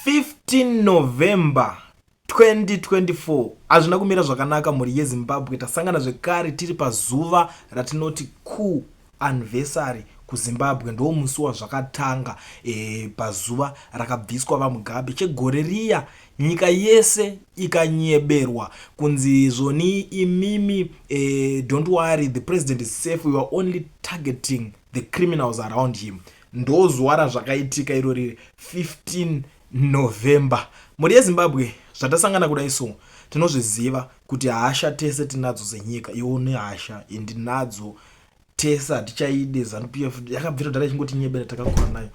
15 November 2024 hazvina kumira zvakanaka mhuri yezimbabwe tasangana zvekare tiri pazuva ratinoti cool anniversary kuzimbabwe ndoo musi wazvakatanga e, pazuva rakabviswa vamugabe chegore riya nyika yese ikanyeberwa kunzi zvoni imimi e, don't worry the president is safe we are only targeting the criminals around him ndozuva razvakaitika iro riri 15 november mhuri yezimbabwe zvatasangana kudai so tinozviziva kuti hasha tese tinadzo senyika iwo nehasha indinadzo tese hatichaide zanup f yakabvira dara ichingotinyebera takakura nayo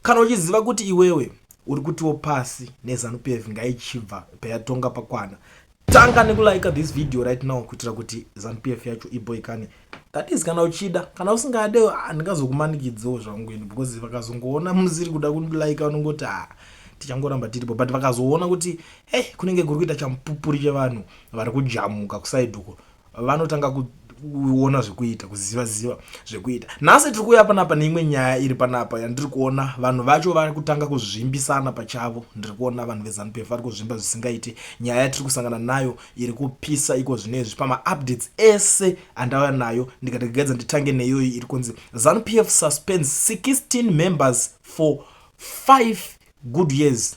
kana uchiziva kuti iwewe uri kutiwo pasi nezanup f ngaichibva payatonga pakwana tanga nekulike this video right now kuitira kuti zanupf yacho iboikane that is kana uchida kana usingade handingazokumanikidzewo zvangu ini because vakazongoona musiri kuda kundilike vanongoti ha ah, tichangoramba tiripo but vakazoona kuti hey kunenge kuri kuita champupuri chevanhu vari kujamuka kusaidoko vanotanga kuona zvekuita kuziva ziva zvekuita nhasi tiri kuuya panapa neimwe nyaya iri panapa yandiri kuona vanhu vacho vari kutanga kuzvimbisana pachavo ndiri kuona vanhu vezanu pf vari kuzvimba zvisingaiti nyaya yatiri kusangana nayo iri kupisa iko zvino izvi pamaupdates ese andauya nayo ndikati gaidza nditange neyoyi iri kunzi zanu pf suspends 16 members for 5 good years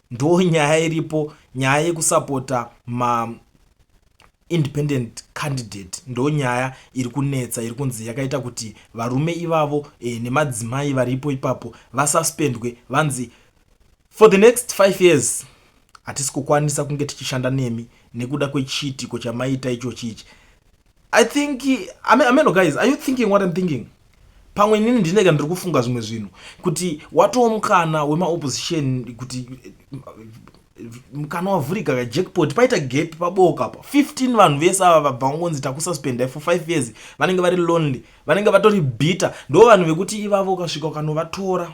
ndo nyaya iripo nyaya yekusapota ma independent candidate ndo nyaya iri kunetsa iri kunzi yakaita kuti varume ivavo e, nemadzimai varipo ipapo vasuspendwe vanzi for the next five years hatisi kukwanisa kunge tichishanda nemi nekuda kwechiitiko chamaita ichochi ichi i think ameno guys are you thinking what im thinking pamwe inini ndineka ndiri kufunga zvimwe zvinhu kuti watowo mukana wemaopposition kuti mukana wavhurika ka jackpot paita gap paboka apa 15 vanhu vese ava vabva ngonzi takususpendai for 5 years vanenge vari lonely vanenge vatori bitter ndo vanhu vekuti ivavo ukasvika ukanovatora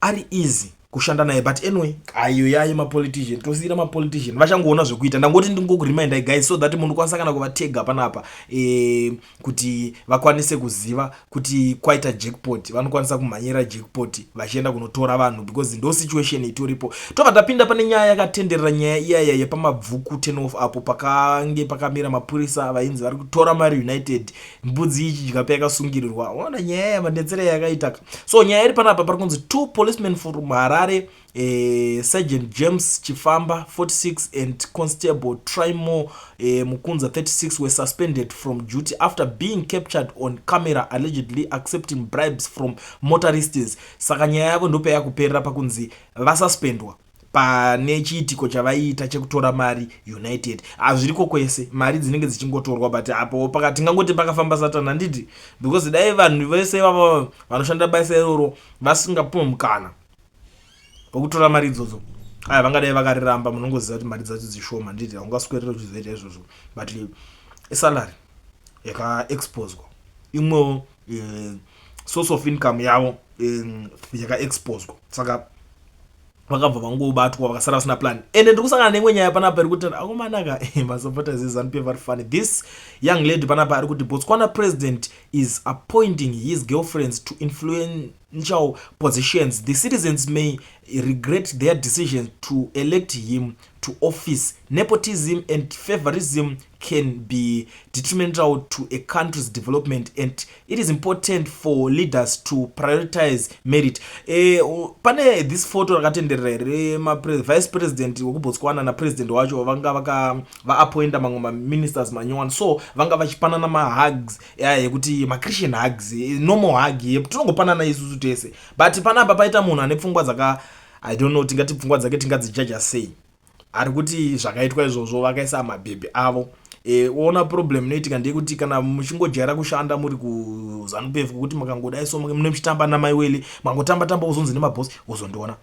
ari easy kushanda naye but anyway ayo yaye mapolitician tosiyira mapolitician vachangoona zvekuita ndangoti ndingokuremindai guys so that munokwanisa kana kuvatega panapa e, kuti vakwanise kuziva kuti kwaita jackpot vanokwanisa kumhanyira jackpot vachienda kunotora vanhu because ndo situation itoripo tobva tapinda pane nyaya yakatenderera nyaya iyaya yepamabvuku ten off apo pakange pakamira mapurisa vainzi vari kutora mari united e, mbudzi ichidya payakasungirirwa ona nyaya yamandetsere yakaitaka so nyaya iri panapa pari kunzi two policemen from harare eh, sergeant james chifamba 46 and constable trimo eh, mukunza 36 were suspended from duty after being captured on camera allegedly accepting bribes from motorists saka nyaya yavo ndopaya kuperera pakunzi vasuspendwa pane chiitiko chavaiita chekutora mari united hazviriko kwese mari dzinenge dzichingotorwa but apo paka tingangoti pakafamba satani handiti because dai vanhu vese ivava vanoshanda basa iroro vasingapuwe mukana wekutora mari idzodzo aya vangadai vakariramba munongoziva kuti mari dzacho dzishoma handiti haungaswerere uchizoita izvozvo but isalary yakaexposwa imwewo eh, source of income yavo eh, yakaexposwa saka vakabva vangobatwa vakasara vasina plan ende ndiri kusangana neimwe nyaya panapa iri kuti akomanaka eh, masupporters ezanup pf vari funny this young lady panapa ari kuti botswana president is appointing his girlfriends to influential positions the citizens may regret their decision to elect him to office nepotism and favorism can be detrimental to a country's development and it is important for leaders to prioritize merit eh, pane this photo rakatenderera here vice president wekubotswana napresident wacho vanga vaapointa mamwe maministers manyowani so vanga vachipanana mahugs yekuti machristian hugs eh, normal hug ye tinongopanana isusu tese but panapa paita munhu ane pfungwa dzaka i don't know tingati pfungwa dzake tingadzijaja sei ari kuti zvakaitwa izvozvo vakaisa mabhebhi avo e, ona problem inoitika ndeyekuti kana muchingojaira kushanda muri kuzanu pefu kwekuti makangodai so mune muchitamba namai weli mangotamba tamba wozonzi nemabhosi wozondiona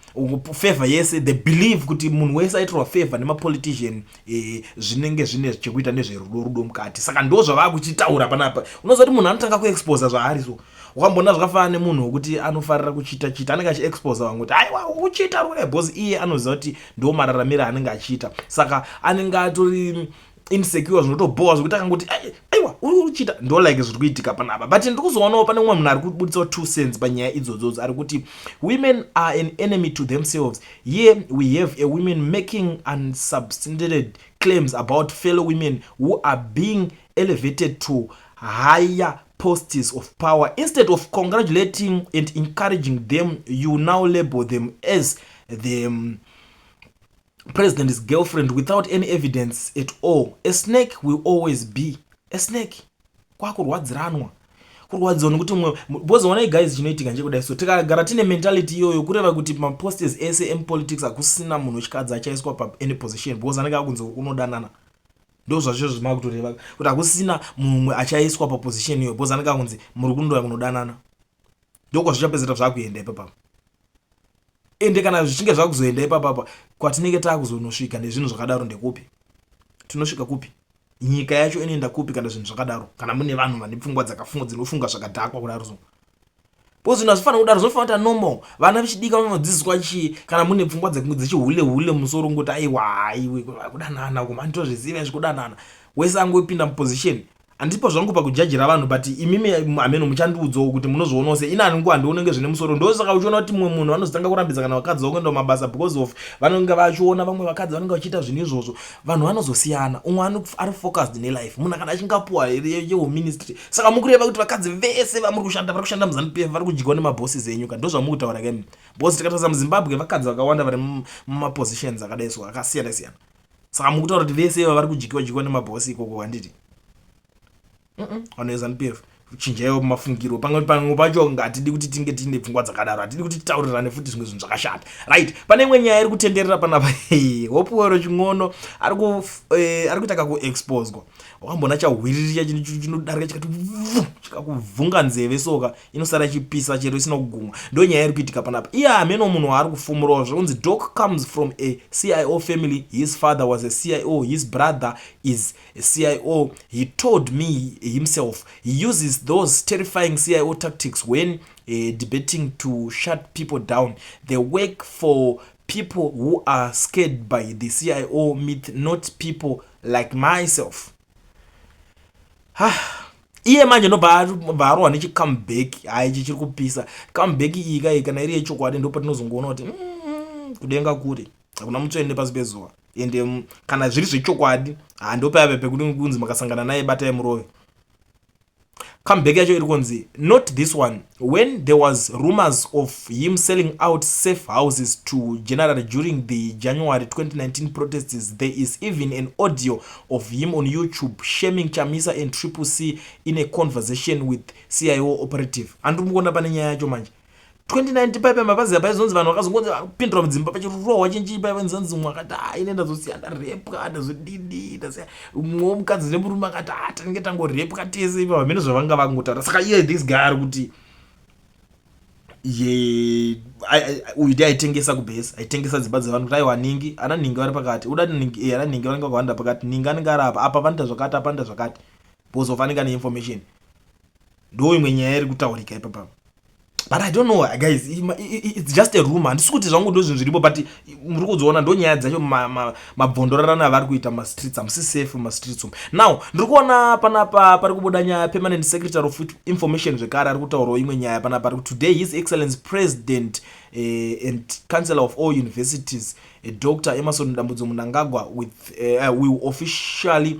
favor yese the believe kuti munhu wese aitirwa favor nemapolitician e, zvinenge zvine chekuita nezverudo rudo mukati saka ndo zvavaa kuchitaura panapa unoziva kuti munhu anotanga kuexposa zvaari so wakamboona zvakafanana nemunhu wekuti anofarira kuchita chita anenge achiexposa vamwe kuti aiwa uchita rure bcause iye anoziva kuti ndo mararamiro anenge achiita saka anenge atori insecure zvinotobhowa zvekuti akangoti aiwa uri uchita ndo like zviri kuitika panapa but ndiri kuzoonawo pane umwe munhu ari kubuditsawo two cents panyaya idzodzodzo ari kuti women are an enemy to themselves here we have a women making unsubstandated claims about fellow women who are being elevated to higher posts of power instead of congratulating and encouraging them you now label them as the um, president's girlfriend without any evidence at all a snake will always be a snake kwakurwadziranwa kurwadziwa nekuti mwe because onai guys chinoitika nchekudai so tikagara tine mentality iyoyo kureva kuti maposters ese emupolitics hakusina munhu wechikadzi achaiswa pa any position because anenge akunzi unodanana ndozvazvo zvimakutoreva kuti hakusina mumwe achaiswa paposition iyo bcause anenge akunzi muri kundoya kunodanana ndokwazvichapedzera zvakuenda ipapapa ende kana zvichinge zvakuzoenda ipapapa kwatinenge takuzonosvika nezvinhu zvakadaro ndekupi tinosvika kupi nyika yacho inoenda kupi kana zvinhu zvakadaro kana mune vanhu vane pfungwa dzakafunga dzinofunga zvakadhakwa kudaro so because zvinhu hazvifanira kudaro zvinofanira kuita normal vana vechidika vanodzidziswa chii kana mune pfungwa dzechihule hule musoro ngoti aiwa haiwe kudanana kuma nditozviziva izvi kudanana wese angopinda muposition handipo zvangu pakujajira vanhu but imimi hameno muchandiudzawo kuti munozvionawo se inani nguva ndionenge zvine musoro ndosaka uchiona kuti mumwe munhu vanozotanga kurambidza kana vakadzi vakuenda mabasa because of vanenge vachiona vamwe vakadzi vanenge vachiita zvinhu izvozvo vanhu vanozosiyana umwe ari focused nelife munhu akada achingapuwa yewo ministry saka mukureva kuti vakadzi vese vamuri kushanda vari kushanda muzanu pf vari kudyiwa nemabhosi zenyu ka ndozvamuri kutaura kemi bhosi tikatarisa muzimbabwe vakadzi vakawanda vari mumapositions akadai so akasiyana siyana saka mukutaura kuti vese iva vari kudyiwa dyiwa nemabhosi ikoko handiti vanhu veZanu PF chinjaiwo mafungiro pamwe pamwe pacho hatidi kuti tinge tiine pfungwa dzakadaro hatidi kuti titaurirane futi zvimwe zvinhu zvakashata right pane imwe nyaya iri kutenderera panapa hopuwero chin'ono ari eh, kuita kakuexposwa wakamboona chahwiriricha chinodarika chikati chikakuvhunga nzeve soka inosara ichipisa chero isina kugumwa ndo nyaya iri kuitika panapa iye hameno munhu waari kufumurawo zvakunzi doc comes from a cio family his father was a cio his brother is a CIO, he told me himself, he uses those terrifying CIO tactics when uh, debating to shut people down. They work for people who are scared by the CIO myth, not people like myself. Ah. iye manje nobva arohwa nechicomeback hai ichi chiri kupisa comeback iyi kai kana iri yechokwadi ndopatinozongoona kuti mm, kudenga kuri hakuna mutsoende pasi pezuva ende mm, kana zviri zvechokwadi handopayave pekuti kunzi makasangana naye batai murove comeback yacho iri kunzi not this one when there was rumors of him selling out safe houses to general during the january 2019 protests there is even an audio of him on youtube shaming chamisa and triple c in a conversation with cio operative andiri mukuona pane nyaya yacho manje 2019 paipa mapazi apa izonzi vanhu vakazongonzi kupindura mudzimba pachirohwa chinchii paiva nzanzi mwe akati ha ine ndazosiya ndarepwa ndazodidi ndasiya mwewo mukadzi nemurume akati ha tinenge tangorepwa tese ipa vamene zvavanga vangotaura saka iye this guy ari kuti ye uyu ndi aitengesa kubhesi aitengesa dzimba dzevanhu kuti aiwa ningi ana ningi vari pakati uda ningi ana ningi vanenge vakawanda pakati ningi anenge ari apa apa vanoita zvakati apa anoita zvakati because of anenge ane information ndo imwe nyaya iri kutaurika ipapa but i don't know guys it's just a rumor handisi kuti zvangu ndo zvinhu zviripo but muri kuzoona ndo nyaya dzacho mabvondorarana avari kuita mumastreets hamusi safe mumastreets umu now ndiri kuona panapa pari kubuda nyaya permanent secretary of information zvekare ari kutaurawo imwe nyaya panapa ari kuti today his excellence president uh, and councillor of all universities uh, eh, dr emerson dambudzo munangagwa with uh, will officially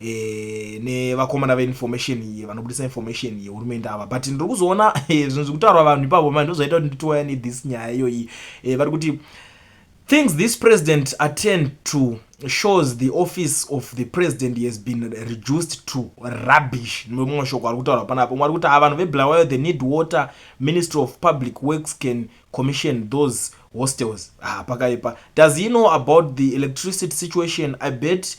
e, nevakomana veinformation iyi vanobudisa information iyi hurumende ava but ndiri kuzoona e, zvinhu zviri kutaurwa vanhu ipapo mani ndozvaita kuti nditowaya nethis nyaya iyoyi e, vari kuti things this president attend to shows the office of the president has been reduced to rubbish nemamwe mashoko ari kutaura pana apo mwari kuti ava vanhu veblawayo the need water ministry of public works can commission those hostels ah, pakaipa does he know about the electricity situation i bet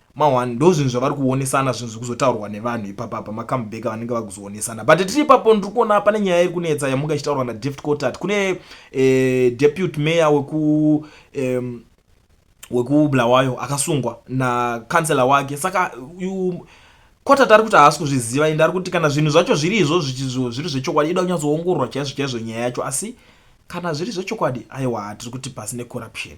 Mahwani ndozvinhu zvavari kuonesana zvinhu zvikuzotaurwa nevanhu ipapa pama comeback vanenge vakuzoonesana but tiri ipapo ndiri kuona pane nyaya iri kunetsa yamunga ichitaurwa na Deft Cotat kune eh, deputy mayor weku eh, wekubulawayo akasungwa na councilor wake saka you, Cotat ari kuti haasi kuzviziva ende ari kuti kana zvinhu zvacho zviri izvo zviri zvechokwadi ida kunyatsoongororwa chaizvo chaizvo nyaya yacho asi kana zviri zvechokwadi aiwa tiri kuti pasi necorruption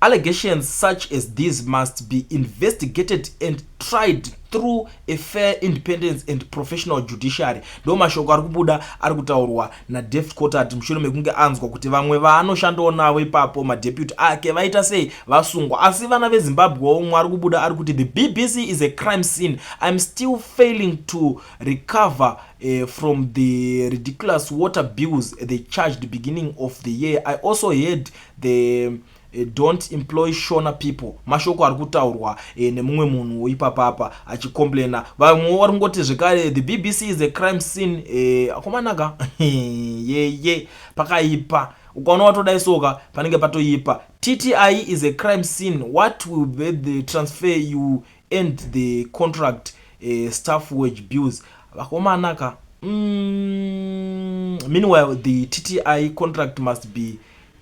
Allegations such as these must be investigated and tried through a fair independence and professional judiciary ndo mashoko ari kubuda ari kutaurwa nadeft cotat mushure mekunge anzwa kuti vamwe vaanoshandawo navo ipapo madeputy ake vaita sei vasungwa asi vana vezimbabwe omwe ari kubuda ari kuti the bbc is a crime scene iam still failing to recover uh, from the ridiculous water bills they charged beginning of the year i also heard They eh, don't employ shona people mashoko ari kutaurwa eh, nemumwe munhu ipapapa achicomplaina vamwe vari kungoti zvekare the bbc is a crime scene eh, akomanaka yeye pakaipa ukaona watodai soka panenge patoipa tti is a crime scene what will be the transfer you end the contract eh, staff wage bills vakomanaka mm, meanwhile the tti contract must be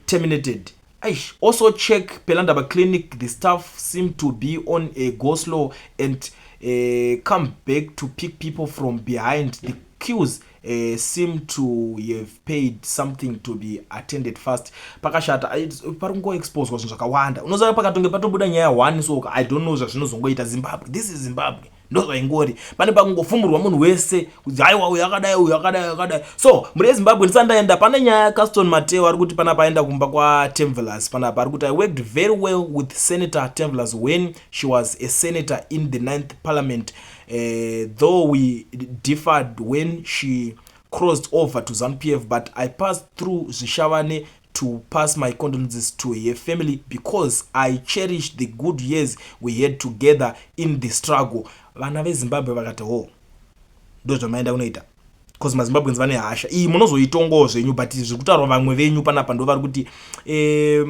terminated Aish, also check Pelandaba clinic the staff seem to be on a go slow and uh, come back to pick people from behind the queues uh, seem to have paid something to be attended fast pakashata pari kungoexposwa zvinhu zvakawanda unoziva pakatonge patobuda nyaya one so i don't know zvazvinozongoita zimbabwe this is zimbabwe ndozvaingori pane pakungofumurwa munhu wese kuti haiwa uyu akadai uyu akadai akadai so mhuri yezimbabwe ndisati ndaenda pane nyaya yacaston mateo ari kuti panapa aenda kumba kwatemvelas panapa ari kuti i worked very well with senator temvelas when she was a senator in the ninth parliament uh, though we differed when she crossed over to zanu p f but i passed through zvishavane to pass my condolences to her family because i cherish the good years we had together in the struggle vana vezimbabwe vakati ho oh, ndozvamaenda kunoita bcause mazimbabwens vane hasha iyi munozoitongawo zvenyu but zviri kutaurwa vamwe venyu panapa ndo vari kuti eh,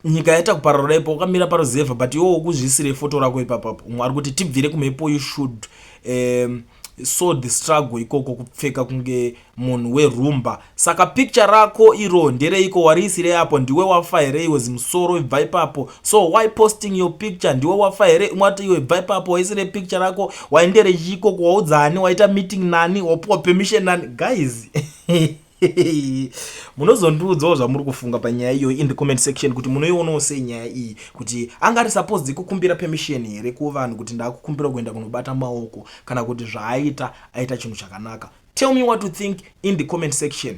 nyika yaita kupararura ipo ukamira paruzevha but iwo ukuzviisire foto rako ipapapo umwe ari kuti tibvire kumhepo you should um, so the struggle ikoko kupfeka kunge munhu werumba saka picture rako iro ndereiko wariisirei apo ndiwe wafa here iwe zimusoro ibva ipapo so why posting your picture ndiwe wafa here imwe ati iwe ibva ipapo waisire picture rako wainderechiikoko waudza ani waita meeting nani wapiwa permission nani guys munozondiudzawo zvamuri kufunga panyaya iyoyi in the comment section kuti munoionawo sei nyaya iyi kuti anga ari suppose dzikukumbira permission here kuvanhu kuti ndakukumbira kuenda kunobata maoko kana kuti zvaaita aita chinhu chakanaka tell me what to think in the comment section